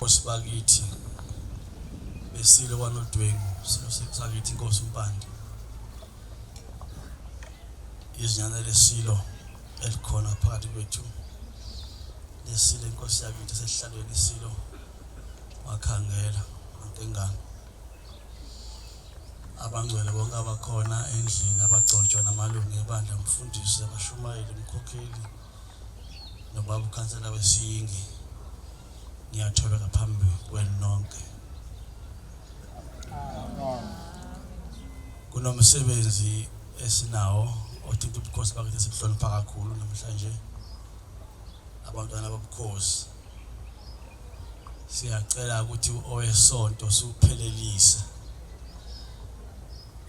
Osibakithi besile kwanodwengu sakithi inkosi umpande izinyana lesilo elikhona phakathi kwethu lesilo inkosi yakithi sesihlalweni isilo wakhangela ngentengane abangcwele bonke abakhona endlini abagcotshwa namalungu ebandla umfundisi abashumayeli umkhokheli nobaba ukhansela wesiyingi ngiyathobeka phambi kwenu nonke kunomsebenzi esinawo othinta ubukhosi bakithi sibuhlonipha kakhulu namhlanje abantwana bobukhosi siyacela ukuthi owesonto suphelelise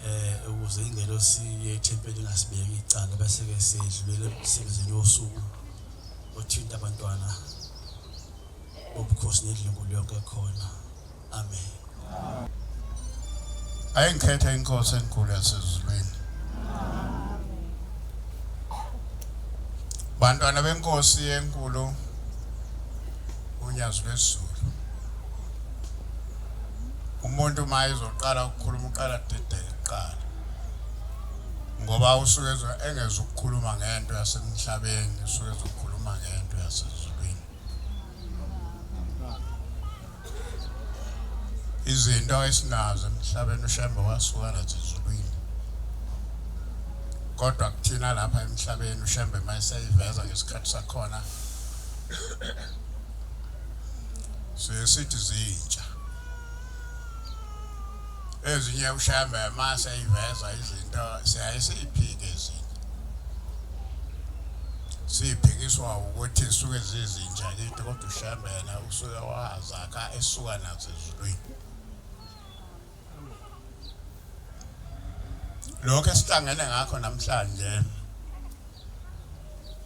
eh ukuze ingelosi yethempeli ingasibeki icala bese ke sidlulele emsebenzini wosuku othinta abantwana obukhosi nedlungu lonke khona Amen. Ayengikhetha inkosi enkulu yasezulwini. Bantwana benkosi enkulu unyazi lwezulu. Umuntu uma ezoqala ukukhuluma uqala dedele kuqala. Ngoba usuke engeza ukukhuluma ngento yasemhlabeni usuke ezokhuluma ngento yasezulwini. izinto esinazo emhlabeni ushembe wasuka nathi ezulwini kodwa kuthina lapha emhlabeni ushembe uma eseyiveza ngesikhathi sakhona siye sithi zintsha ezinye ushembe uma seyiveza izinto siyaye siyiphike ezinye siphikiswa ukuthi suke zizinja kithi kodwa ushambela usuke Wazakha esuka nazo ezulwini. Lokho esihlangene ngakho namhlanje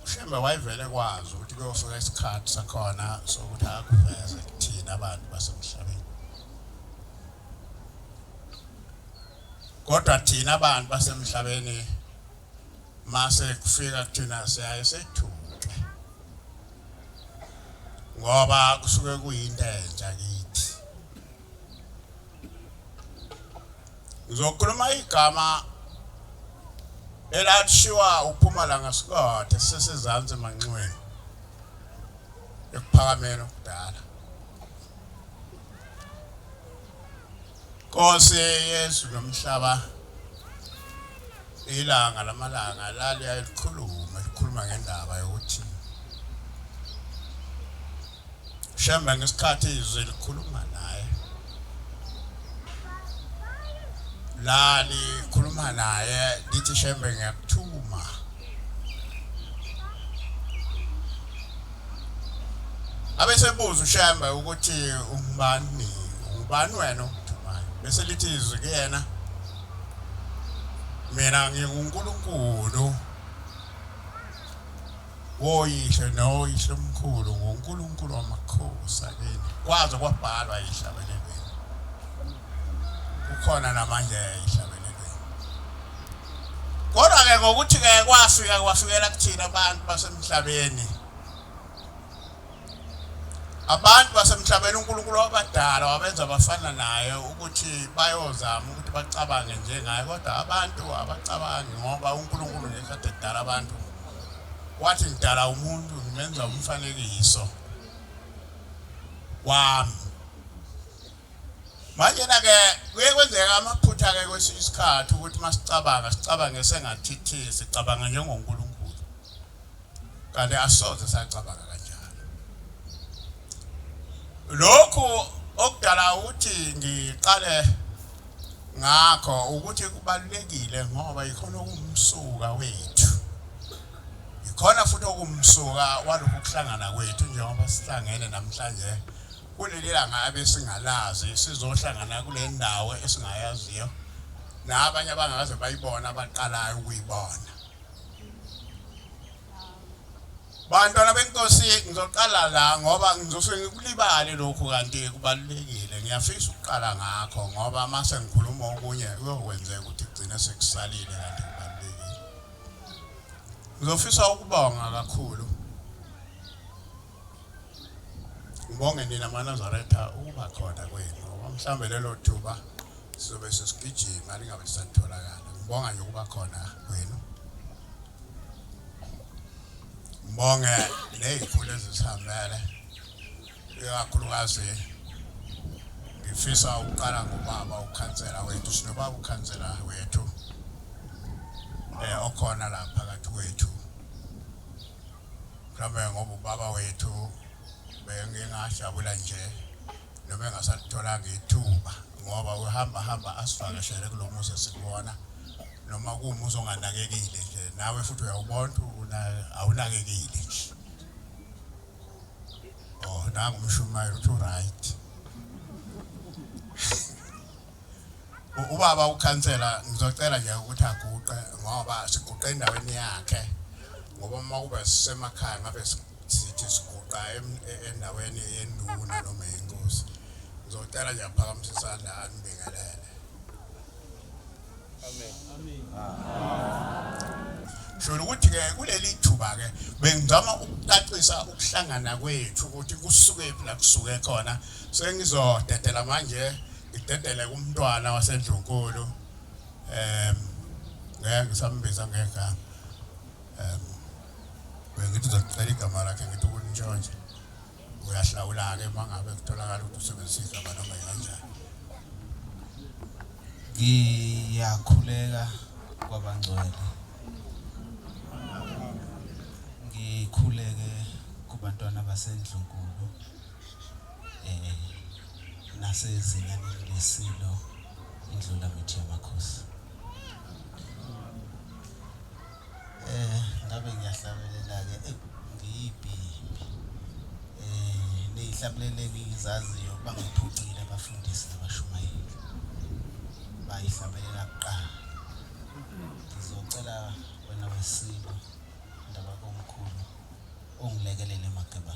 uShembe wayevele kwazi ukuthi kuyofika isikhathi sakhona sokuthi akuveze kuthina abantu basemhlabeni. Kodwa thina abantu basemhlabeni mase kufika kuthina siyaye sethuthe ngoba kusuke kuyinto entsha kithi ngizokhuluma igama elathiwa uphumalanga sikothe sesezantsi emanxiweni ekuphakameni okudala Nkosi yezulu nomhlaba ilanga lamalanga laliya likhuluma likhuluma ngendaba yokuthi Shembe ngesikhathi izwi likhuluma naye lali khuluma naye lithi Shembe ngiyakuthuma Abesebuza uShembe ukuthi ungubani, ungubani wena ogijimayo? Bese lithi izwi kuyena, Mina nginguNkulunkulu woyihlo noyihlo omkhulu, nguNkulunkulu wamakhosi akini. Kwaze kwabhalwa ehlabekelweni. Kukhona namanje ehlabekelweni. Kodwa-ke ngokuthi-ke kwafika kwafikela kuthina abantu basemhlabeni abantu basemhlabeni uNkulunkulu wabadala wabenza bafana naye ukuthi bayozama ukuthi bacabange njengaye kodwa abantu abacabangi ngoba uNkulunkulu ngesikhathi edala abantu wathi ngidala umuntu ngimenza umfanekiso wami Manje na-ke kuye kwenzeka amaphutha-ke kwesinye isikhathi ukuthi uma sicabanga sicabange sengathithi sicabanga njengonkulunkulu kanti asoze sacabanga kanjalo lokhu okudala ukuthi ngiqale ngakho ukuthi kubalulekile ngoba yikhona okumsuka wethu yikhona futhi okumsuka walokhu kuhlangana kwethu njengoba sihlangene namhlanje Kulelilanga abesingalazi sizohlangana kule ndawo esingayaziyo nabanye abangakaze bayibona abaqalayo ukuyibona bantwana benkosi ngizoqala la ngoba ngizosuke ngikulibale lokhu kanti kubalulekile ngiyafisa ukuqala ngakho ngoba uma sengikhuluma okunye kuyokwenzeka ukuthi kugcine sekusalile kanti kubalulekile ngizofisa ukubonga kakhulu Ngibonge nina maNazaretha ukuba khona kwenu ngoba mhlawumbe lelo thuba sizobe sesigijima lingabe lisatholakala. Ngibonga nje ukuba khona kwenu. Ngibonge nezikhulu ezisihambele ikakhulukazi ngifisa ukuqala ngobaba ukhansela wethu sinobaba ukhansela wethu eh okhona lapha phakathi kwethu Mhlawumbe ngoba ubaba wethu bengingajabula nje noma engasalitholanga ithuba ngoba uhamba hamba asivakashele kulo muzi esikuwona noma kuwumuzi onganakekile nje nawe futhi uyawubona ukuthi awunakekile nje oh nangu umshumayeli uthi uright Ubaba ukhansela ngizocela nje ukuthi aguqe ngoba siguqe endaweni yakhe ngoba uma kube sisemakhaya ngabe sithi siguqa e, endaweni yenduna noma yenkosi ngizocela nje aphakamise isandla anibingelele sholo ukuthi ke kuleli thuba ke bengizama ukucacisa ukuhlangana kwethu ukuthi kusuke phi la kusuke khona sengizodedela manje ngidedele kumntwana wasendlunkulu em ngeke ngisambiza ngegama em bengithi uzocela igama lakhe ngithi ukunjanje uyahlawula-ke uma ngabe kutholakala ukuthi usebenzisa igama noma yikanjani ngiyakhuleka kwabangcwele ngikhuleke kubantwana basendlunkulu eh nasezingane lesilo indlula mithi yamakhosi Ngabe ngiyahlabelela-ke ngiyiphi impi? Niyihlabelele engizaziyo ukuba ngiphucile abafundisi nabashumayeli bayihlabelela kuqala. Ngizocela wena weSilo, Ndabakomkhulu, ungilekelele Mageba.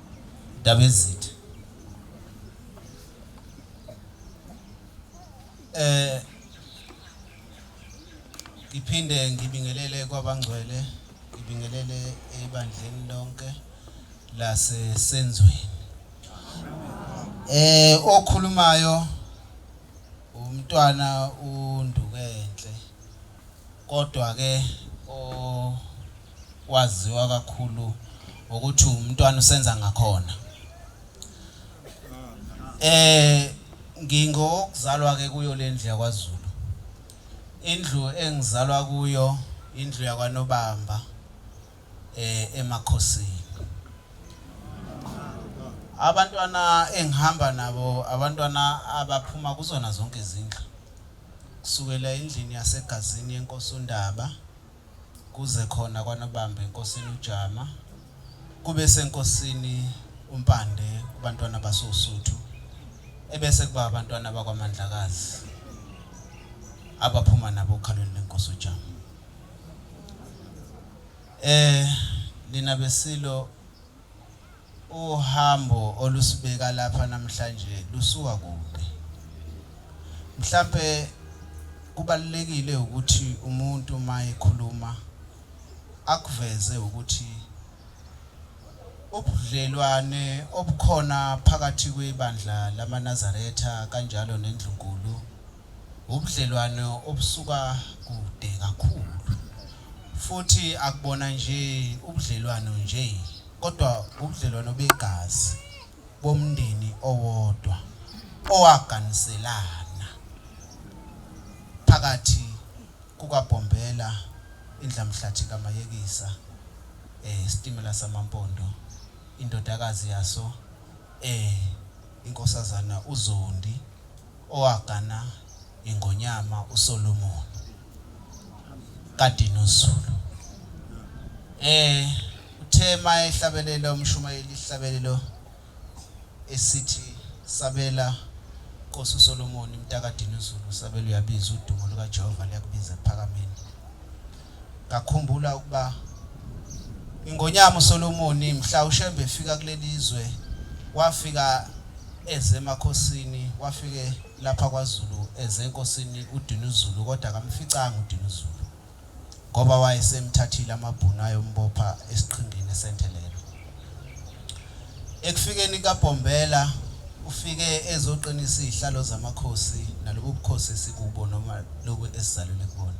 Ndabezitha. Eh ngiphinde ngibingelele kwabangcwele, ngibingelele ebandleni lonke lase Senzweni. Eh okhulumayo umntwana uNdukenhle. Kodwa-ke okwaziwa kakhulu ukuthi uMntwana uSenzangakhona. Ngingowokuzalwa-ke kuyo le ndlu yakwaZulu. Indlu engizalwa kuyo indlu yakwaNobamba eMakhosini. Abantwana engihamba nabo abantwana abaphuma kuzona zonke izindlu. Kusukela endlini yaseGazini yeNkosi uNdaba kuze khona kwaNobamba eNkosini uJama kube seNkosini uMpande kuBantwana basoUsuthu ebese kuba aBantwana bakwaMandlakazi abaphuma nabo okhalweni leNkosi uJama. Eh nina beSilo Uhambo olusibeka lapha namhlanje lusuka kude. Mhlampe kubalulekile ukuthi umuntu uma ekhuluma akuveze ukuthi ubudlelwane obukhona phakathi kwebandla lamaNazaretha kanjalo neNdlunkulu ubudlelwane obusuka kude kakhulu futhi akubona nje ubudlelwano nje kodwa ubudlelwano begazi bomndeni owodwa owaganiselana phakathi kukaBhombela indlamhlathi kaMayekisa eh sitimela samampondo indodakazi yaso eh inkosazana uZondi Owagana iNgonyama uSolomoni kaDinuzulu e uthe uma ehlabelela umshumayeli isihlabelelo esithi Sabela Nkosi uSolomoni mtaka Dinuzulu usabela uyabizwa udumo lukaJehova luyakubiza ekuPhakameni. Ngakhumbula ukuba iNgonyama uSolomoni mhla uShembe efika kuleli zwe wafika eze emakhosini, wafike lapha kwaZulu eze enkosini uDinuzulu kodwa akamficanga uDinuzulu ngoba wayesemthathile amaBhunu ayombopha esiqhingini eseNthelelo. Ekufikeni kaBhombela ufike ezoqinisa izihlalo zamakhosi nalobu bukhosi esikubo noma lobu esizalelwe kubona.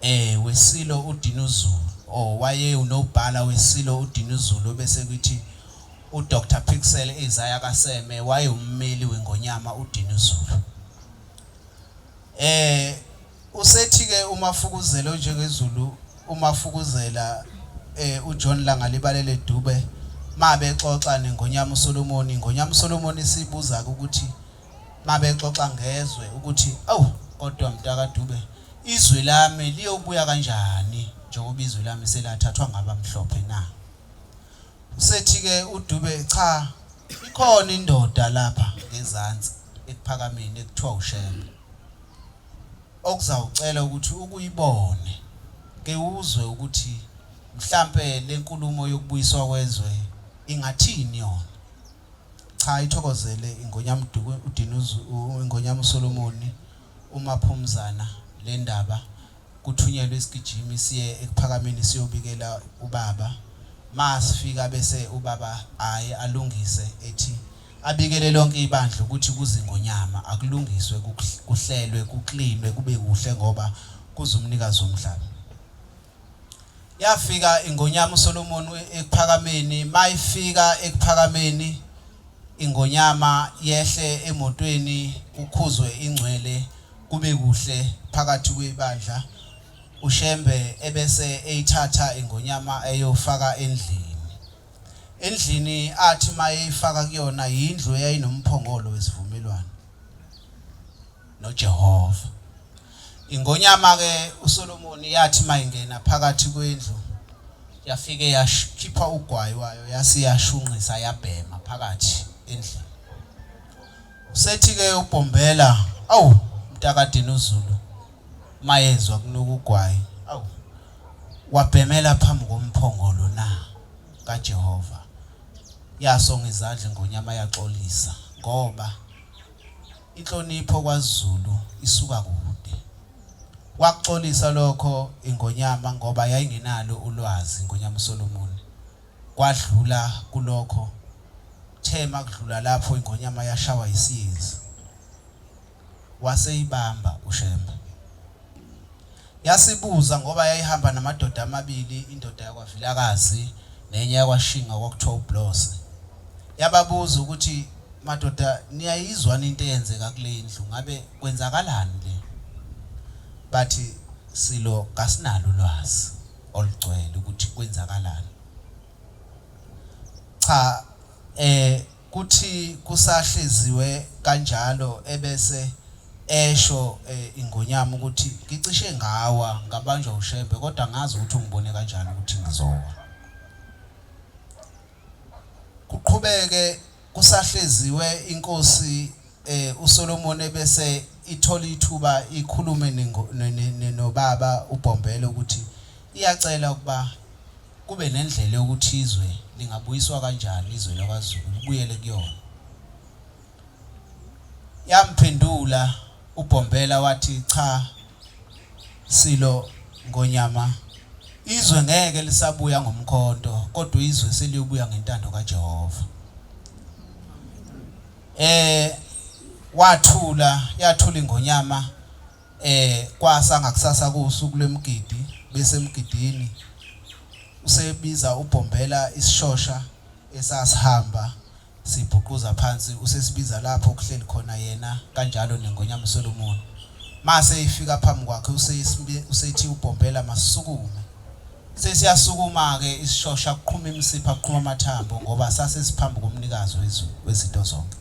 Eh weSilo uDinuzulu or waye uNobhala weSilo uDinuzulu obese kwithi uDr Pixel Isaiah kaSeme waye ummeli weNgonyama uDinuzulu. Eh usethi ke uMafukuzela onjengeZulu uMafukuzela eh uJohn Langalibalele Dube mabe xoxa neNgonyama uSolomoni, iNgonyama uSolomoni sibuza ukuthi mabexoxa ngezwe ukuthi awu kodwa mtaka Dube izwe lami liyobuya kanjani njengoba izwe lami selathathwa ngabamhlophe na usethi ke uDube cha ikhona indoda lapha ngezansi ekuphakameni ekuthiwa uShembe okuzawucela ukuthi ukuyibone ke uzwe ukuthi mhlambe lenkulumo yokubuyiswa kwezwe ingathini yona Cha ithokozele iNgonyamduku uDinuzu uNgonyam'uSolomoni uMaphumzana lendaba kuthunyelwe isigijimi siye eKuphakameni siyobikela ubaba masifika bese ubaba aye alungise ethi abikele lonke ibandla ukuthi kuze iNgonyama akulungiswe kuhlelwe kuklinwe kube kuhle ngoba kuze umnikazi womhlaba. Yafika iNgonyama uSolomoni eKuphakameni, mayifika eKuphakameni iNgonyama yehle emotweni kukhuzwe ingcwele kube kuhle phakathi kwebandla, uShembe ebese eyithatha iNgonyama eyofaka endlini. Endlini athi mayeyifaka kuyona yindlu eyayinomphongolo wesivumelwano. noJehova. Ingonyama-ke uSolomoni yathi mayingena phakathi kwendlu yafike yakhipha ugwayi wayo yase yashunqisa yabhema phakathi endlini. Usethi-ke uBhombela, awu mntakadini uZulu mayezwa kunuka ugwayi, awu wabhemela phambi komphongolo na kaJehova. Yasonga izandla ingonyama yaxolisa ngoba Inhlonipho kwaZulu isuka kude. Wakuxolisa lokho iNgonyama ngoba yayingenalo ulwazi, iNgonyama uSolomon. Kwadlula kulokho, kuthe makudlula lapho iNgonyama yashawa yisiyezi. Waseyibamba uShembe. Yasibuza ngoba yayihamba namadoda amabili indoda yakwa Vilakazi nenye yakwa Shinga okwakuthiwa uBlose. Yababuza ukuthi madoda niyayizwa into eyenzeka kule ndlu ngabe kwenzakalani le? Bathi silo kasinalo ulwazi olugcwele ukuthi kwenzakalani. Cha eh Kuthi kusahleziwe kanjalo ebese esho iNgonyama ukuthi ngicishe ngawa ngabanjwa uShembe kodwa angazi ukuthi ungibone kanjani ukuthi ngizowa. Kuqhubeke kusahleziwe iNkosi uSolomon ebese ithola ithuba ikhulume nobaba uBhombela ukuthi iyacela ukuba kube nendlela yokuthi izwe lingabuyiswa kanjani izwe lakwaZulu libuyele kuyona yamphendula uBhombela wathi cha silo ngonyama izwe ngeke lisabuya ngomkhonto kodwa izwe seliyobuya ngentando kaJehova Eh wathula yathula ingonyama eh kwasa ngakusasa kusuku lwemgidi bese emgidini usebiza ubhombela isishosha esasihamba sibhuquza phansi usesibiza lapho kuhleli khona yena kanjalo nengonyama Solomon mase ifika phambi kwakhe usethi ubhombela masukume Sesiyasukuma-ke isishosha, kuqhuma imisipha, kuqhuma amathambo, ngoba sasesiphambi koMnikazi wezulu wezinto zonke.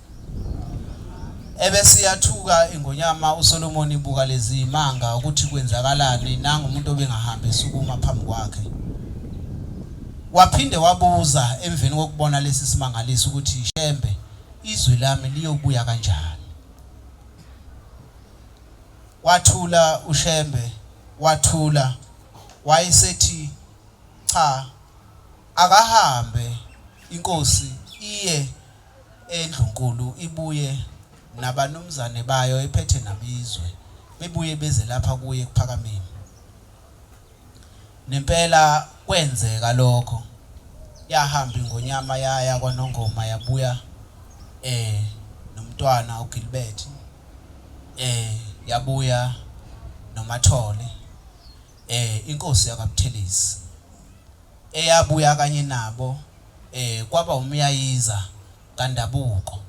Ebese iyathuka iNgonyama uSolomoni ibuka lezi zimanga ukuthi kwenzakalani, nangu umuntu obengahambi esukuma phambi kwakhe. Waphinde wabuza emveni kokubona lesi simangaliso ukuthi, Shembe, izwi lami liyobuya kanjani? Wathula uShembe wathula wayesethi cha akahambe inkosi iye endlunkulu ibuye nabanumzane bayo ephethe nabizwe bebuye beze lapha kuye kuPhakameni. Nempela kwenzeka lokho yahamba ingonyama yaya kwaNongoma yabuya eh nomntwana uGilbert eh yabuya noMathole eh inkosi yakwaButhelezi eyabuya kanye nabo eh kwaba umyayiza kaNdabuko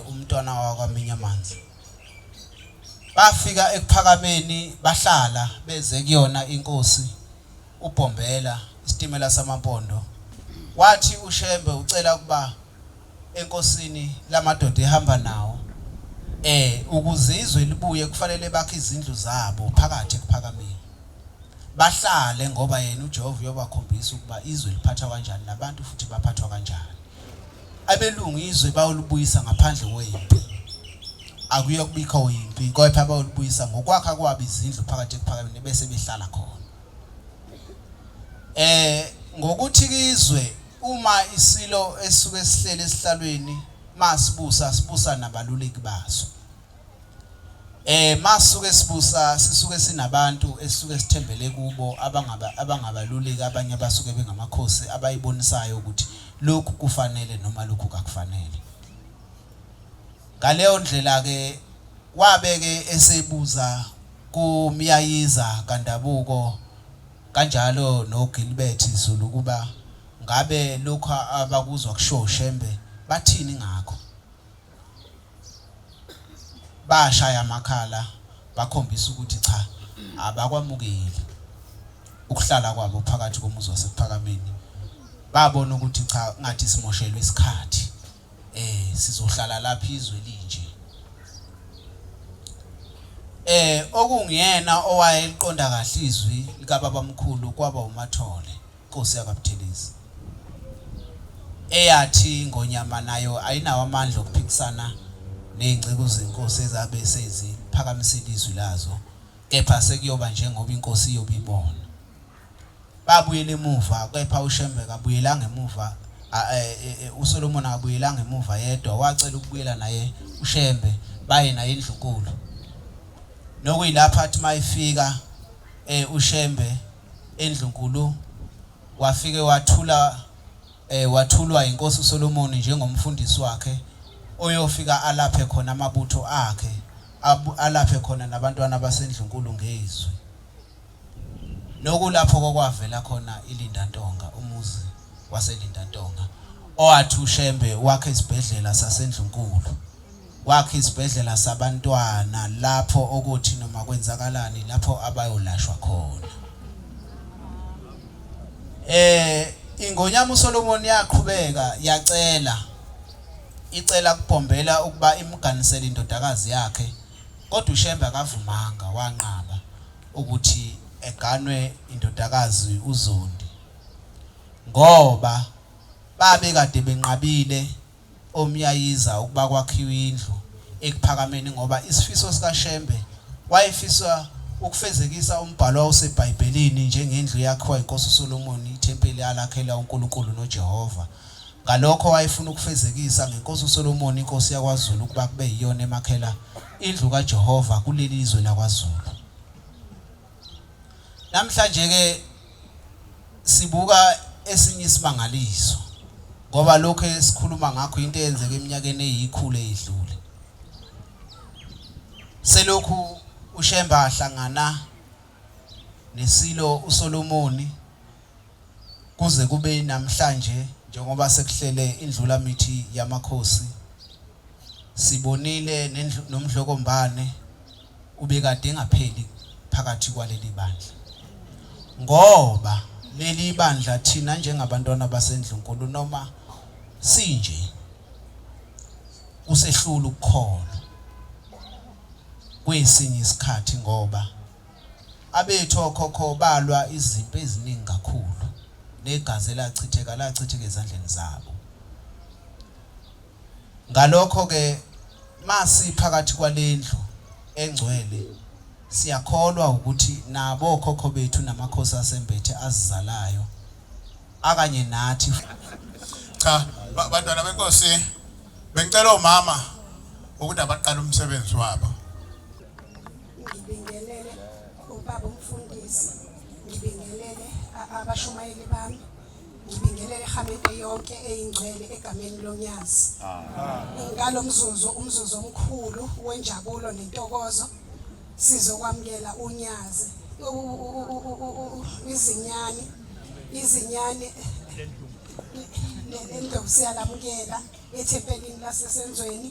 uMntwana wakwaMinyamanzi. Bafika eKuphakameni bahlala beze kuyona inkosi uBhombela isitimela samaMpondo. Wathi uShembe ucela ukuba enkosini lamadoda ehamba nawo eh ukuzizwe libuye kufanele bakhe izindlu zabo phakathi ekuphakameni bahlale ngoba yena uJehova uyobakhombisa ukuba izwe liphatha kanjani nabantu futhi baphathwa kanjani abelungu izwe bayolubuyisa ngaphandle kwempi akuye kubikho impi kodwa bayolubuyisa ngokwakha kwabo izindlu phakathi ekuphakameni bese behlala khona eh ngokuthi izwe uma isilo esuke sihlele esihlalweni masibusa sibusa nabaluleki baso Eh masuke sibusa sisuke sinabantu esisuke sithembele kubo abangaba abangabaluleki abanye abasuke bengamakhosi abayibonisayo ukuthi lokhu kufanele noma lokhu kakufanele. Ngaleyo ndlela ke wabeke esebuza kuMyayiza kaNdabuko kanjalo noGilbert Zulu ukuba ngabe lokhu abakuzwa kushiwo uShembe bathini ngakho. bashaya amakhala bakhombisa ukuthi cha abakwamukeli ukuhlala kwabo phakathi komuzi wasephakameni babona ukuthi cha ngathi simoshelwe isikhathi eh sizohlala lapha izwe linje eh okungiyena owayeliqonda kahle izwi likababamkhulu kwaba uMathole Inkosi yakwaButhelezi eyathi iNgonyama nayo ayinawo amandla okuphikisana nezinceku zenkosi ezabe seziphakamisile izwi lazo kepha sekuyoba njengoba inkosi iyobe ibona. Babuyela emuva kepha uShembe kabuyelanga emuva a- e- e- e- uSolomon akabuyelanga emuva yedwa wacela ukubuyela naye uShembe baye naye endlunkulu. Nokuyilapho athi mayifika eh uShembe endlunkulu wafike wathula eh, wathulwa inkosi uSolomoni njengomfundisi wakhe oyofika alaphe khona amabutho akhe alaphe khona nabantwana basendlunkulu ngezwi nokulapho kokwavela khona iLinda Ntonga umuzi waseLinda Ntonga owathi uShembe wakhe isibhedlela sasendlunkulu Wakha izibhedlela sabantwana lapho okuthi noma kwenzakalani lapho abayolashwa khona. Eh ingonyama uSolomon yaqhubeka yacela icela kubhombela ukuba imganisele indodakazi yakhe kodwa uShembe akavumanga wanqaba ukuthi eganwe indodakazi uZondi ngoba babe kade benqabile omyayiza ukuba kwakhiwe indlu eKuphakameni ngoba isifiso sikaShembe wayefisa ukufezekisa umbhalo owawuseBhayibhelini njengendlu eyakhiwa yiNkosi uSolomoni, ithempeli alakhela uNkulunkulu noJehova. Ngalokho wayefuna ukufezekisa ngeNkosi uSolomoni iNkosi yakwaZulu ukuba kube yiyona emakhela indlu kaJehova kuleli zwe lakwaZulu. Namhlanje-ke sibuka esinye isimangaliso ngoba lokhu esikhuluma ngakho into eyenzeka eminyakeni eyikhulu eyidlule. Selokhu uShemba ahlangana neSilo uSolomoni kuze kube namhlanje njengoba sekuhlele indlula mithi yamakhosi sibonile nomdlokombane ubekade engapheli phakathi kwaleli bandla ngoba leli bandla thina njengabantwana basendlunkulu noma sinje usehlula ukukholwa kwesinye isikhathi ngoba abethu okhokho balwa izimpi eziningi kakhulu negazi elachitheka lachitheka ezandleni zabo Ngalokho-ke, uma siphakathi kwale ndlu engcwele, siyakholwa wukuthi nabo okhokho bethu namakhosi asembethe azizalayo akanye nathi. Cha, ba- bantwana benkosi, bengicela omama ukuthi abaqale umsebenzi wabo. ngibingelele ubaba umfundisi ngibingelele a- abashumayeli bami ngibingelela ihamete yonke eyingcwele egameni lonyazi ngalo mzuzu umzuzu omkhulu wenjabulo nentokozo sizokwamukela unyazi izinyane izinyane lendovu siyalamukela ethempelini lasesenzweni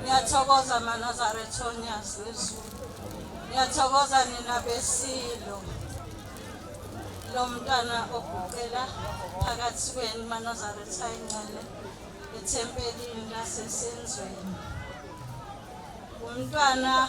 Ngiyathokoza Manazarethonians wezulu. Ngiyathokoza nina besilo. Lo mntana oguqela phakathi kwenu Manazaretha encele ethempelini lasesenzweni. Umntwana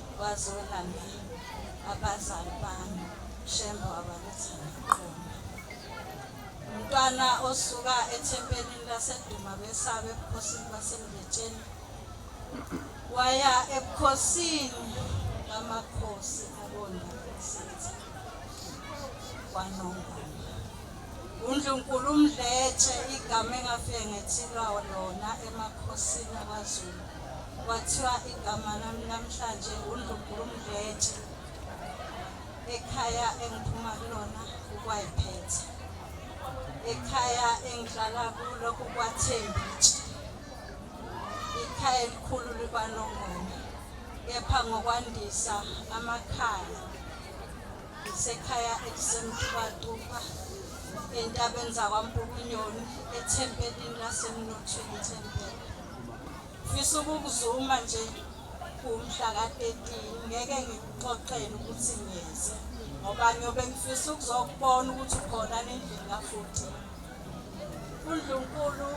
Wazwela mina abazali bami shembe wabaletha ngiqoma. Umntwana osuka ethempelini laseduma besabe ebukhosini basemletsheni waya ebukhosini bamakhosi abona isithi kwanongoma. UNdlunkulu uMdletshe igama engafike ngethilwa lona emakhosini akwaZulu. Kwathiwa igama lami namhlanje uNdlunkulu uMdletshe ekhaya engiphuma kulona kukwayiphethe. Ekhaya engihlala kulo kukwaThembitshe. Ikhaya elikhulu likwaNongoma kepha ngokwandisa amakhaya Ngisekhaya elisemtubatuba entabeni zakwaMpukunyoni ethempelini lasemnothweni thempela. Ngifisa ukukuzuma nje kumhla ka-13 ngeke ngikuxoxele ukuthi ngiyeze ngoba ngiyobe ngifisa ukuzokubona ukuthi ukhona nendlini kafuthi undlunkulu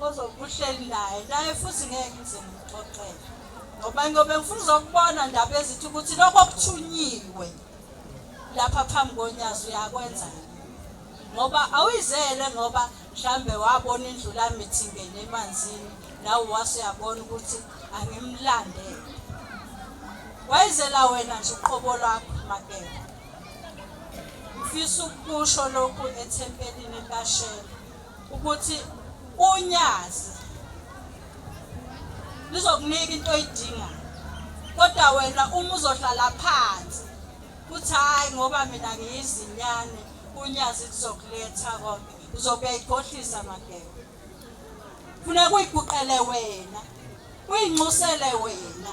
ozokuhleli naye naye futhi ngeke ngize ngimxoxele ngoba ngiyobe ngifuna uzokubona ndaba ezithi ukuthi lokho kuthunyiwe lapha phambi konyazi uyakwenza ngoba awuyizele ngoba mhlambe wabona indlu lami ithingene emanzini nawe wase uyabona ukuthi angimlandele wayizela wena nje uqobo lwakho makela ufisa ukusho lokhu ethempelini likashela ukuthi unyazi lizokunika into oyidingayo kodwa wena uma uzohlala phansi kuthi hhayi ngoba mina ngiyizinyane unyazi lizokuletha konke uzokuyayigohlisa magebe funeka uyiguqele wena Uyinxusele wena.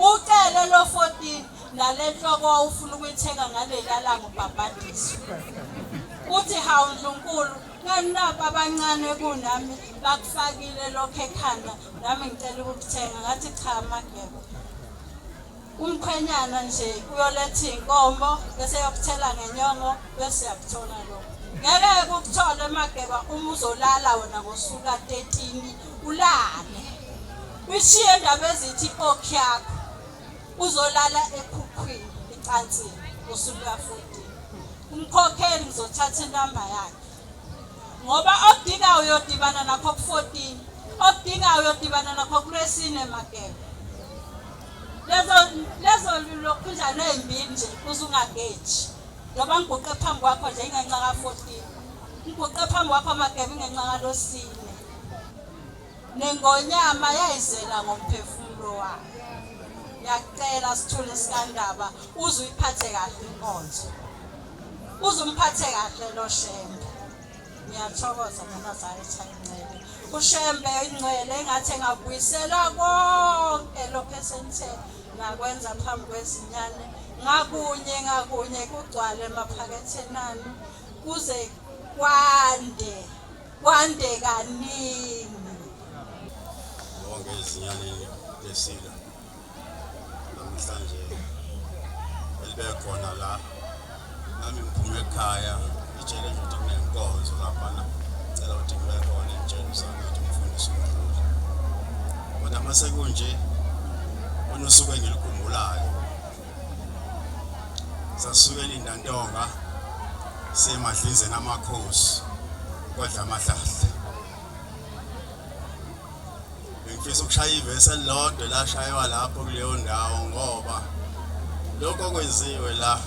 Ucele lo 14 nalenhloko awufuna ukuyithenga ngaleyalanga ubhabhadiswa. Uthi hawu Ndlunkulu nganilapha abancane kunami bakufakile lokho ekhanda nami ngicela ukukuthenga ngathi cha mageba. Umkhwenyana nje uyoletha iy'nkomo bese yokuthela ngenyongo bese yakuthola lokho. Ngeke kukuthole Mageba uma uzolala wena ngosuku ka-13 ulale. Uyishiye ndaba ezithi okhi yakho uzolala ekhukhwini ecansini ngosuku ka-14. Umkhokheli ngizothatha inamba yakhe. Ngoba okudinga uyodibana nakho ku-14. Okudinga uyodibana nakho kulwesine Mageba. Lezo lezo lokhunjana ezimbi nje uzungageji. Ngoba ngiguqe phambi kwakho nje ingenxa ka 14. Ngiguqe phambi kwakho amagebe ingenxa ka losini. nengonyama yayizela ngomphefumulo wayo ngiyacela sithule sikandaba uze uyiphathe kahle inkonzo uze umphathe kahle lo shembe Ngiyathokoza nabazali Chayinxele. UShembe ingcwele engathi engabuyisela konke lokho esenithe ngakwenza phambi kwezinyane ngakunye ngakunye kugcwale emaphaketheni anu kuze kwande kwande kaningi. Wonke izinyane lesilo. namhlanje elibekhona la nami ngiphume ekhaya itshele nje ukuthi kunenkonzo laphana cela ukuthi ngibe khona entsheni zami ukuthi ngifundise umdluli kodwa uma sekunje unosuku engilikhumbulayo sasuke elindantonga siyemadlinzeni amakhosi kodla amahlahla Ngifisa ukushaya ivesi elilodwa lashaywa lapho kuleyo ndawo ngoba lokho okwenziwe la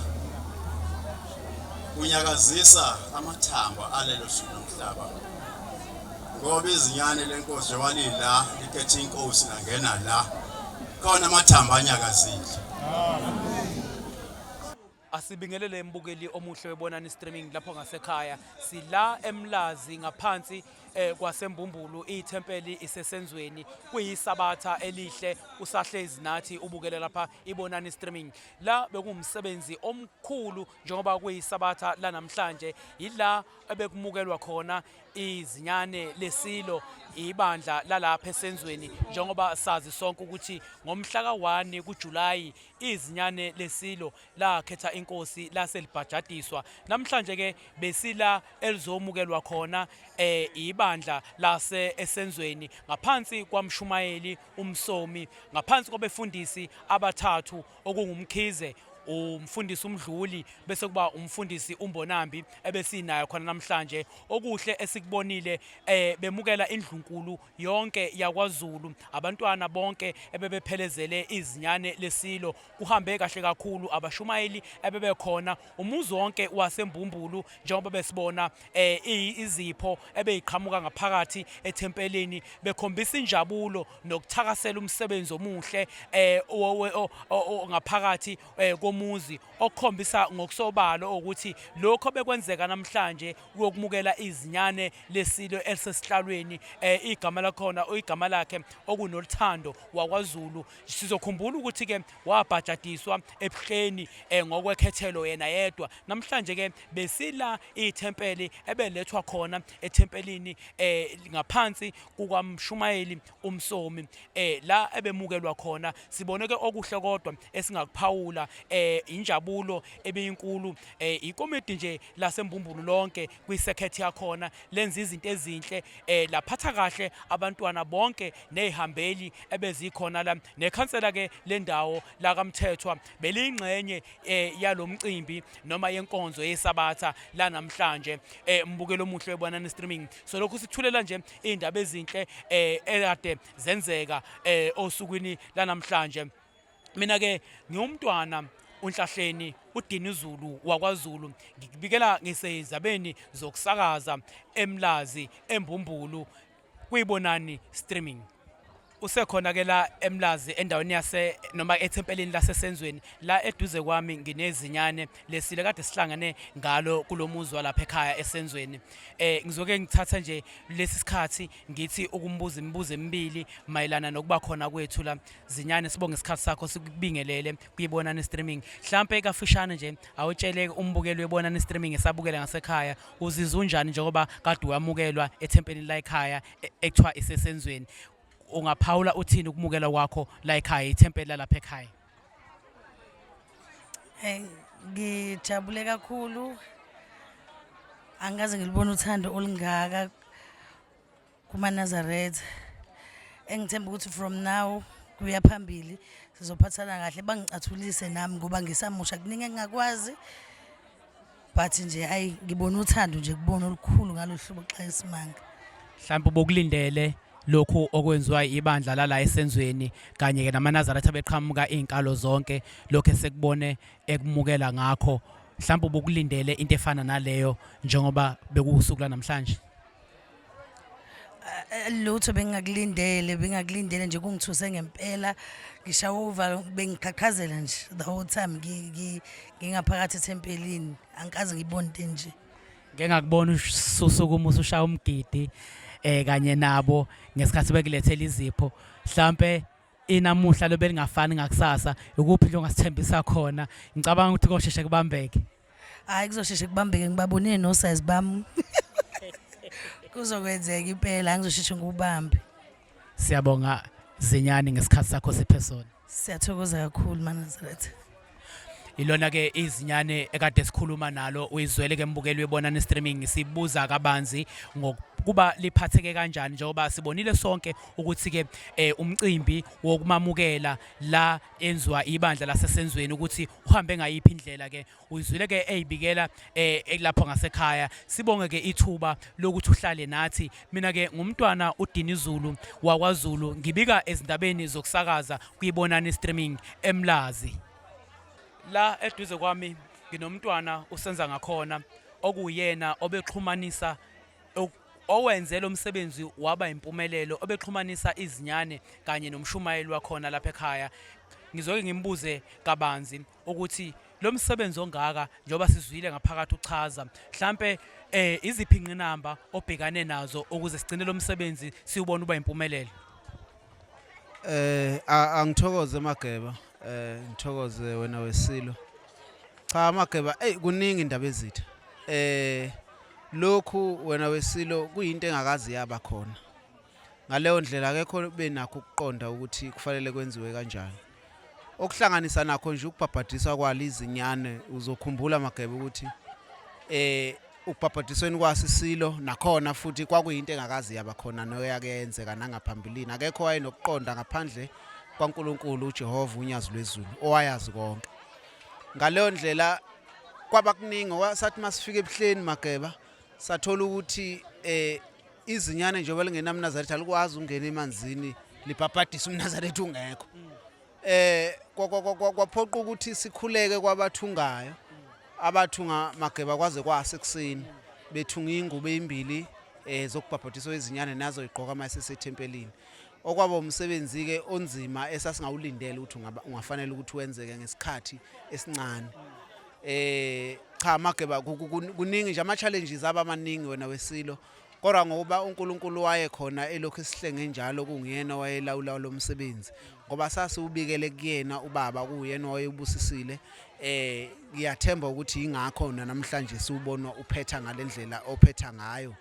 kunyakazisa amathambo alelo suku lomhlaba ngoba izinyane lenkosi njengoba lila likhetha inkosi nangena la khona amathambo anyakazile Asibingelele mbukeli omuhle webonani streaming lapho ngasekhaya sila emlazi ngaphansi eh, kwasembumbulu ithempeli isesenzweni kuyisabatha elihle usahlezi nathi ubukele lapha ibonani streaming la bekumsebenzi omkhulu njengoba kuyisabatha lanamhlanje yila ebekumukelwa khona izinyane lesilo ibandla lalapha esenzweni njengoba sazi sonke ukuthi ngomhla ka-1 kuJulayi izinyane lesilo lakhetha inkosi lase libhajadiswa namhlanje ke besila elizomukelwa khona eh ibandla lase esenzweni ngaphansi kwamshumayeli umsomi ngaphansi kwabefundisi abathathu okungumkhize umfundisi umdluli bese kuba umfundisi umbonambi ebesinayo khona namhlanje okuhle esikubonile eh bemukela indlunkulu yonke yakwaZulu abantwana bonke ebebephelezele izinyane lesilo kuhambe kahle kakhulu abashumayeli ebebekhona umuzi wonke waseMbumbulu njengoba besibona eh, izipho ebeyiqhamuka ngaphakathi ethempelini bekhombisa injabulo nokuthakasela umsebenzi omuhle eh, ngaphakathi eh, komuzi okukhombisa ngokusobalo ukuthi lokho bekwenzeka namhlanje wokumukela izinyane lesilo elisesihlalweni eh, igama lakhona igama lakhe okunoluthando wakwaZulu sizokhumbula ukuthi ke wabhajadiswa ebuhleni eh, ngokwekhethelo yena yedwa namhlanje ke besila ithempeli ebelethwa khona ethempelini eh, ngaphansi kukamshumayeli umsomi eh la ebemukelwa khona sibone ke okuhle kodwa esingakuphawula eh injabulo ebeyinkulu eh ikomedi nje lasembumbulu lonke kwi circuit yakhona lenza izinto ezinhle eh laphatha kahle abantwana bonke nezihambeli ebezikhona la nekhansela ke lendawo la kamthethwa belingxenye eh yalomcimbi noma yenkonzo yesabatha la namhlanje eh mbukelo omuhle webona ne streaming so lokhu sithulela nje iy'ndaba ezinhle um eh, ekade zenzeka um osukwini lanamhlanje mina-ke ngiwumntwana unhlahleni udini zulu wakwazulu ngikubikela ngisezabeni zokusakaza emlazi embumbulu kuyibonani streaming usekhona ke la eMlazi endaweni yase noma ethempelini lasesenzweni la eduze kwami nginezinyane lesile kade sihlangene ngalo kulomuzi walapha ekhaya esenzweni eh ngizoke ngithatha nje lesi sikhathi ngithi ukumbuza imibuzo emibili mayelana nokuba khona kwethu la zinyane sibonge isikhathi sakho sikubingelele kuyibona ne streaming mhlambe kafishane nje awutshele umbukeli webona ne streaming esabukela ngasekhaya uzizwa unjani njengoba kade wamukelwa ethempelini la ekhaya e- ekuthiwa isesenzweni ungaphawula uthini ukumukela kwakho la ekhaya ithempeli lalapha ekhaya Eh, ngijabule kakhulu angikaze ngilibone uthando olungaka kumanazaretha engithemba ukuthi from now kuya phambili sizophathana kahle bangicathulise nami ngoba ngisamusha kuningi engingakwazi but nje ayi ngibona uthando nje kubona olukhulu ngalohlobo xa isimanga mhlawumbe ubokulindele lokhu okwenziwa ibandla lala esenzweni kanye ke namanazaretha beqhamuka izinkalo zonke lokho esekubone ekumukela ngakho mhlawumbe ubokulindele into efana naleyo njengoba bekuwusuku lanamhlanje Eh, lutho bengingakulindele bengingakulindele nje kungithuse ngempela ngishawa uvalo bengiqhaqhazela nje the whole time ngi- ngi- ngingaphakathi ethempelini angikaze ngibone into enje ngeke ngakubona ususukuma usushaya umgidi eh kanye nabo ngesikhathi bekulethela izipho mhlambe inamuhla lobelingafani ngakusasa ukuphi longasithembisa khona ngicabanga ukuthi kosheshe kubambeke hayi kuzosheshe kubambeke ngibabonile nosayizi bami kuzokwenzeka impela angizosheshe ngikubambe siyabonga zinyane ngesikhathi sakho sephesona siyathokoza kakhulu manazaretha ilona ke izinyane ekade sikhuluma nalo uyizwele ke mbukeli webona ne streaming sibuza kabanzi ngokuba liphatheke kanjani njengoba sibonile sonke ukuthi ke eh, umcimbi wokumamukela la enziwa ibandla lasesenzweni ukuthi uhambe ngayiphi indlela ke uyizwile ke eyibikela eh, elapha ngasekhaya sibonge ke ithuba lokuthi uhlale nathi mina ke ngumntwana uDini Zulu wakwaZulu ngibika ezindabeni zokusakaza kuyibonani streaming eMlazi la eduze kwami nginomntwana usenza ngakhona okuyena obexhumanisa owenze lo msebenzi waba impumelelo obexhumanisa izinyane kanye nomshumayeli wakhona lapha ekhaya ngizoke ngimbuze kabanzi ukuthi lo msebenzi ongaka njengoba sizwile ngaphakathi uchaza mhlampe eh iziphi inqinamba obhekane nazo ukuze sigcine lo msebenzi siwubona uba impumelelo eh angithokoze mageba eh ngithokoze wena wesilo cha mageba hey kuningi indaba ezitha eh lokhu wena wesilo kuyinto engakazi yaba khona ngaleyo ndlela akekho benakho ukuqonda ukuthi kufanele kwenziwe kanjani okuhlanganisa nakho nje ukubhabhadiswa kwalo izinyane uzokhumbula magebe ukuthi eh ukubhabhadisweni kwasisilo nakhona futhi kwakuyinto engakazi yaba khona noyake yenzeka nangaphambilini akekho wayenokuqonda ngaphandle kwaNkuluNkulu uJehova unyazi lwezulu owayazi konke ngaleyo ndlela kwaba kuningi sathi masifika ebuhleni mageba sathola ukuthi eh izinyane njengoba lingenamnazaretha alikwazi ukungena emanzini libhabhadisa umnazaretha ungekho eh kwaphoqa ukuthi sikhuleke kwabathungayo abathunga mageba kwaze kwase kuseni bethunga ingubo ezimbili eh zokubhabhadiswa izinyane nazo igqoka mayisesethempelini okwaba umsebenzi-ke onzima esasingawulindele ukuthi ungafanele ukuthi wenzeke ngesikhathi esincane eh cha mageba kuningi nje ama-challenges aba maningi wena wesilo kodwa ngokuba uNkulunkulu wayekhona elokhu esihlenge njalo kungiyena wayelawula lo msebenzi ngoba sasiwubikele kuyena ubaba kuyena wayebusisile eh ngiyathemba ukuthi ingakho namhlanje siwubonwa uphetha ngalendlela ophetha ngayo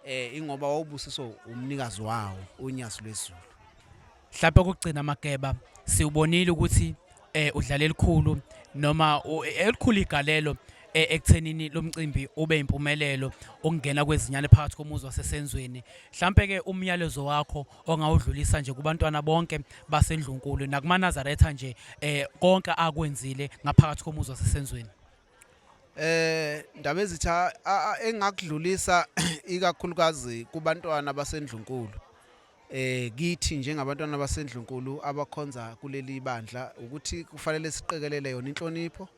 eh ingoba wawubusiswa umnikazi wawo uNyazi lwezulu mhlawumbe ukugcina mageba siwubonile ukuthi eh udlala elikhulu noma elikhulu igalelo eh, ekuthenini lomcimbi ube impumelelo ukungena kwezinyane phakathi komuzi wasesenzweni mhlambe ke umyalezo wakho ongawudlulisa nje kubantwana bonke basendlunkulu nakumanazaretha nje eh konke akwenzile ngaphakathi komuzi wasesenzweni eh ndaba ezitha engakudlulisa ikakhulukazi kubantwana basendlunkulu eh kithi njengabantwana basendlunkulu abakhonza kuleli bandla ukuthi kufanele siqekelele yona inhlonipho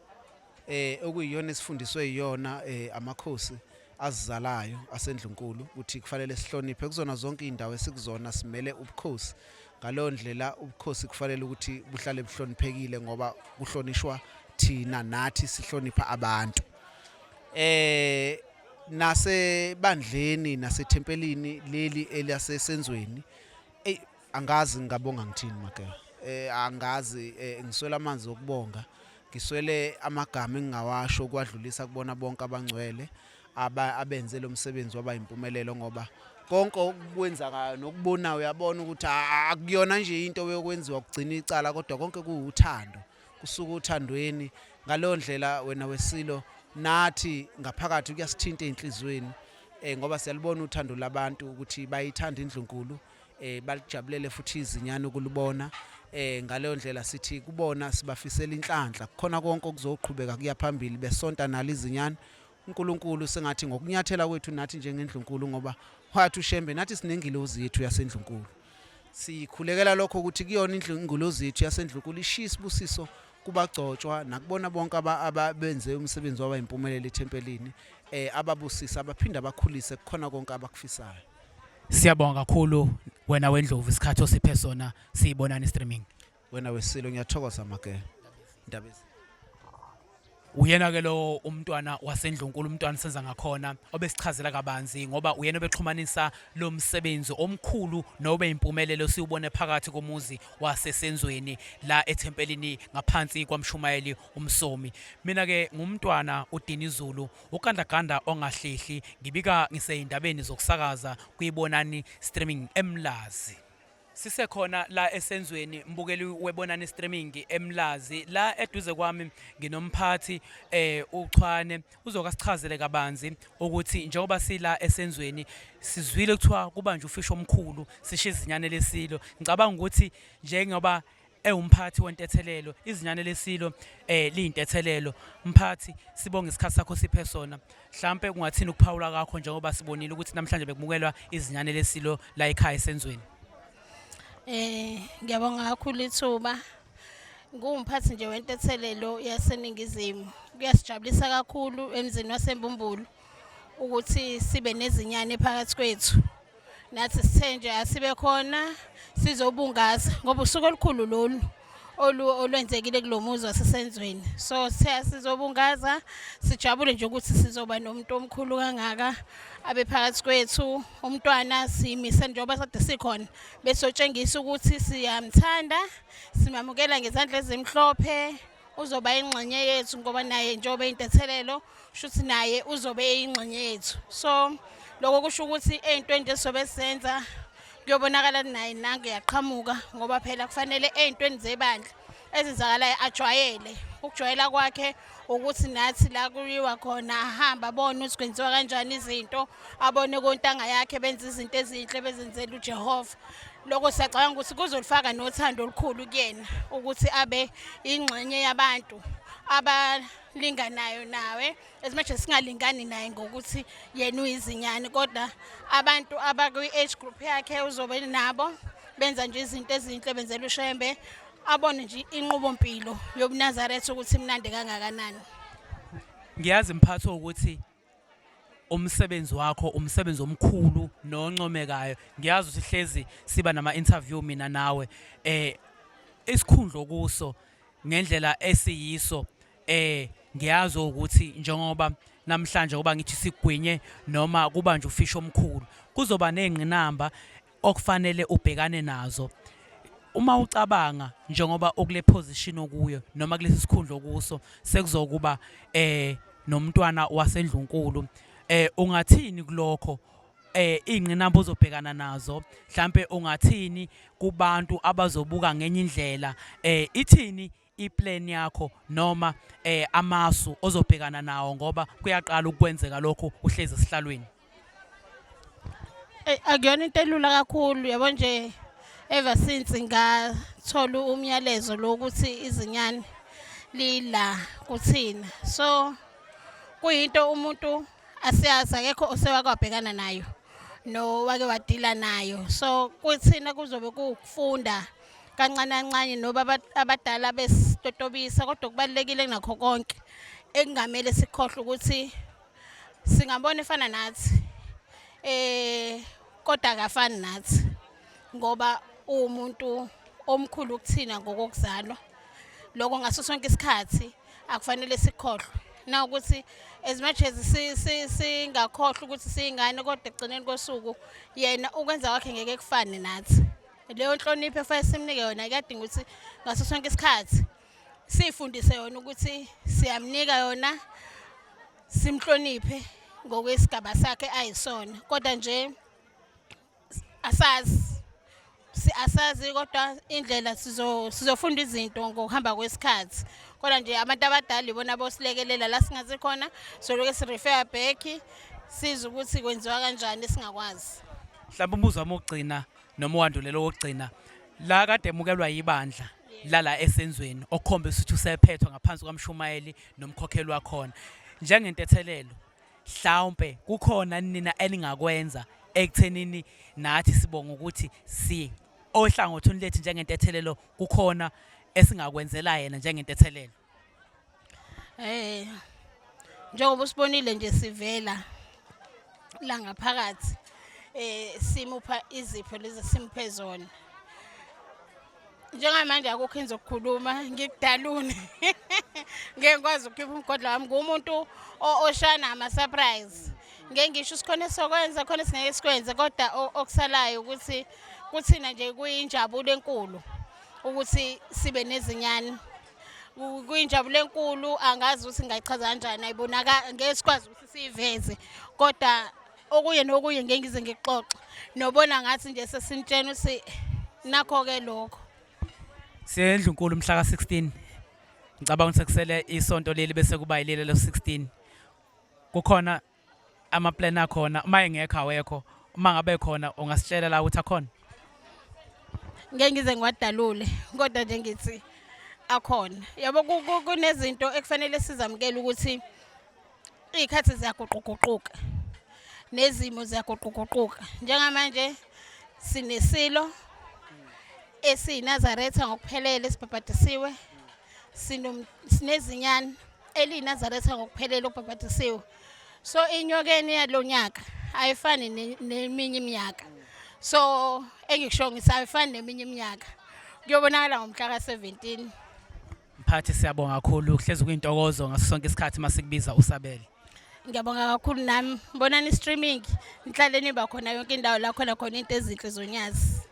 eh okuyiyona esifundiswe iyona eh amakhosi azizalayo asendlunkulu ukuthi kufanele sihloniphe kuzona zonke izindawo esikuzona simele ubukhosi ngaleyo ndlela ubukhosi kufanele ukuthi buhlale buhloniphekile ngoba kuhlonishwa thina nathi sihlonipha abantu eh nasebandleni nasethempelini leli elasesenzweni Angazi ngingabonga ngithini Mageba. Eh angazi eh, ngiswela amanzi okubonga. Ngiswele amagama engingawasho ukwadlulisa kubona bonke abangcwele aba abenze lo msebenzi waba impumelelo ngoba konke okukwenzakayo nokubona uyabona ukuthi akuyona nje into yokwenziwa kugcina icala kodwa konke kuwuthando kusuka uthandweni ngaleyo ndlela wena wesilo nathi ngaphakathi kuyasithinta ezinhlizweni eh ngoba siyalibona uthando labantu ukuthi bayithanda indlunkulu eh balijabulele futhi izinyane ukulibona eh ngaleyo ndlela sithi kubona sibafisela inhlanhla kukhona konke okuzoqhubeka kuya phambili besonta nali izinyane uNkulunkulu sengathi ngokunyathela kwethu nathi njengendlunkulu ngoba wathi uShembe nathi sinengilozi yethu yasendlunkulu sikhulekela lokho ukuthi kuyona indlu ingilozi yethu yasendlunkulu ishisa ibusiso kubagcotshwa nakubona bonke ababenze umsebenzi waba impumelelo ethempelini eh ababusisa abaphinde abakhulise kukhona konke abakufisayo Siyabonga kakhulu wena wendlovu isikhathi osiphe sona siyibonana streaming. Wena wesilo ngiyathokoza make. Ndabezi. Uyena ke lo umntwana wasendlunkulu umntwana senza ngakhona obesichazela kabanzi ngoba uyena obexhumanisa lo msebenzi omkhulu nobe impumelelo siwubone phakathi komuzi wasesenzweni la ethempelini ngaphansi kwamshumayeli umsomi mina ke ngumntwana uDinizulu Ugandaganda ongahlehli ngibika ngiseyindabeni zokusakaza kwiBonani Streaming eMlazi. Sisekhona la esenzweni mbukeli weBonani Streaming eMlazi la eduze kwami nginomphathi eh uChwane uzoka sichazele kabanzi ukuthi njengoba sila esenzweni sizwile kuthiwa kubanje ufisho omkhulu sishizinyane lesilo ngicabanga ukuthi njengoba ewumphathi wentethelelo izinyane lesilo eh liyintethelelo mphathi sibonga isikhathi sakho siphe sona mhlambe kungathini ukuphawula kakho njengoba sibonile ukuthi namhlanje bekumukelwa izinyane lesilo la ekhaya esenzweni eh ngiyabonga kakhulu ithuba ngumphathi nje wentethelelo yaseningizimu kuyasijabulisa kakhulu emzini wasembumbulu ukuthi sibe nezinyane phakathi kwethu nathi sithe nje asibe khona sizobungaza ngoba usuku olukhulu lolu olwenzekile kulo muzi wasesenzweni so sizobungaza sijabule nje ukuthi sizoba nomuntu omkhulu kangaka abe phakathi kwethu umntwana simise njengoba sade sikhona besotshengisa ukuthi siyamthanda simamukela ngezandla ezimhlophe uzoba ingxenye yethu ngoba naye njengoba intethelelo shuthi naye uzobe eyingxenye yethu so lokho kusho ukuthi ey'ntweni nje sobe senza kuyobonakala naye nange yaqhamuka ngoba phela kufanele ey'ntweni zebandla ezenzakalayo ajwayele ukujwayela kwakhe ukuthi nathi la kuyiwa khona ahamba abone ukuthi kwenziwa kanjani izinto abone kontanga yakhe benza izinto ezinhle bezenzela uJehova lokho siyacabanga ukuthi kuzolifaka nothando olukhulu kuyena ukuthi abe ingxenye yabantu abalinganayo nawe as much as singalingani naye ngokuthi yena uyizinyane kodwa abantu abakwi-age group yakhe uzobe nabo benza nje izinto ezinhle benzela ushembe abone nje inqubo mpilo yobunazaretha ukuthi imnandi kangakanani ngiyazi mphatho ukuthi umsebenzi wakho umsebenzi omkhulu noncomekayo ngiyazi ukuthi hlezi siba nama interview mina nawe eh isikhundlo kuso ngendlela esiyiso eh ngiyazi ukuthi njengoba namhlanje kuba ngithi sigwinye noma kuba nje ufish omkhulu kuzoba nezingqinamba okufanele ubhekane nazo uma ucabanga njengoba ukule position okuyo noma kulesi sikhundla okuso sekuzokuba eh nomntwana wasendlunkulu eh ungathini kulokho eh ingqinamba ozobhekana nazo mhlambe ungathini kubantu abazobuka ngenye indlela eh ithini iplan yakho noma eh amasu ozobhekana nawo ngoba kuyaqala ukwenzeka lokho uhlezi esihlalweni Eh, akuyona into elula kakhulu yabo nje ever since ngathola umyalezo lo ukuthi izinyane lila kuthina so kuyinto umuntu asiyazi akekho osewakwabhekana nayo no wake wadila nayo so kuthina kuzobe kufunda kancane kancane noba abadala besitotobisa kodwa kubalulekile kunakho konke ekungamele sikhohlwe ukuthi singabona efana nathi eh kodwa akafani nathi ngoba umuntu omkhulu kuthina ngokokuzalwa lokho ngaso sonke isikhathi akufanele sikhohlwe na ukuthi as much as singakhohlwa ukuthi siyingane kodwa ekugcineni kosuku yena ukwenza kwakhe ngeke kufane nathi leyo nhlonipho efanele simnike yona kuyadinga ukuthi ngaso sonke isikhathi siyifundise yona ukuthi siyamnika yona simhloniphe ngokwesigaba sakhe ayisona kodwa nje asazi asazi kodwa indlela sizofunda izinto ngokuhamba kwesikhathi kodwa nje abantu abadala ibona bosilekelela la singazi khona soloke sirefeya back size ukuthi kwenziwa kanjani singakwazi mhlawumbe umbuzo wami wokugcina noma uwandulela okugcina la kade emukelwa yibandla lala esenzweni okhombe ukuthi usephethwe ngaphansi kwamshumayeli nomkhokheli wakhona njengentethelelo mhlawumbe kukhona nina eningakwenza ekuthenini nathi sibonga ukuthi si ohlangothini lethu njengentethelelo kukhona esingakwenzela yena njengentethelelo Eh njengoba usibonile nje sivela la ngaphakathi eh simupha izipho lezi simuphe zona njengamanje akukho into zokukhuluma ngikudalune ngeke ngikwazi ukukhipha umgodla wami ngumuntu oshaya nama-surprise ngeke ngisho sikhona esokwenza khona esingeke sikwenze kodwa okusalayo ukuthi kuthina nje kuyinjabulo enkulu ukuthi sibe nezinyane kuyinjabulo enkulu angazi ukuthi ngayichaza kanjani ayibonaka ngeke sikwazi ukuthi siyiveze kodwa okuye nokuye ngeke ngize ngixoxe nobona ngathi nje sesintshena ukuthi nakho-ke lokho siyendlu nkulu mhla ka-16 ngicabanga ukuthi sekusele isonto leli bese kuba yileli lo-16 kukhona amaplan akhona uma engekho awekho uma ngabe khona ungasitshela la ukuthi akhona ngeke ngize ngiwadalule kodwa nje ngithi akhona yabo kunezinto ekufanele sizamukele ukuthi iy'khathi ziyaguquguquka nezimo ziyaguquguquka njengamanje sinesilo esiyinazaretha ngokuphelele esibhabhadisiwe sinezinyane eliyinazaretha ngokuphelele okubhabhadisiwe so inyokeni yalo nyaka ayifani neminye iminyaka so engikusho ngithi ayifani neminye iminyaka kuyobonakala ngomhla ka-17 mphathi siyabonga kakhulu kuhlezi kuyintokozo ngaso sonke isikhathi uma sikubiza usabele ngiyabonga kakhulu nami bonani i-streaming nihlale niba khona yonke indawo la khona khona into ezinhle zonyazi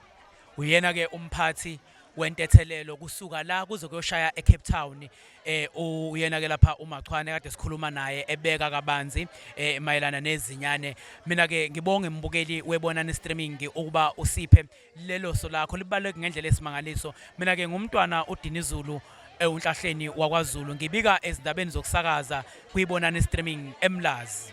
uyena-ke umphathi wentethelelo kusuka la kuze kuyoshaya eCape Town eh uyena ke lapha uMachwane kade sikhuluma naye ebeka kabanzi eh mayelana nezinyane mina ke ngibonge imbukeli webona ne streaming ukuba usiphe lelo so lakho libaleke ngendlela esimangaliso mina ke ngumntwana uDinizulu ewunhlahleni wakwaZulu ngibika ezindabeni zokusakaza kuyibona ne streaming eMlazi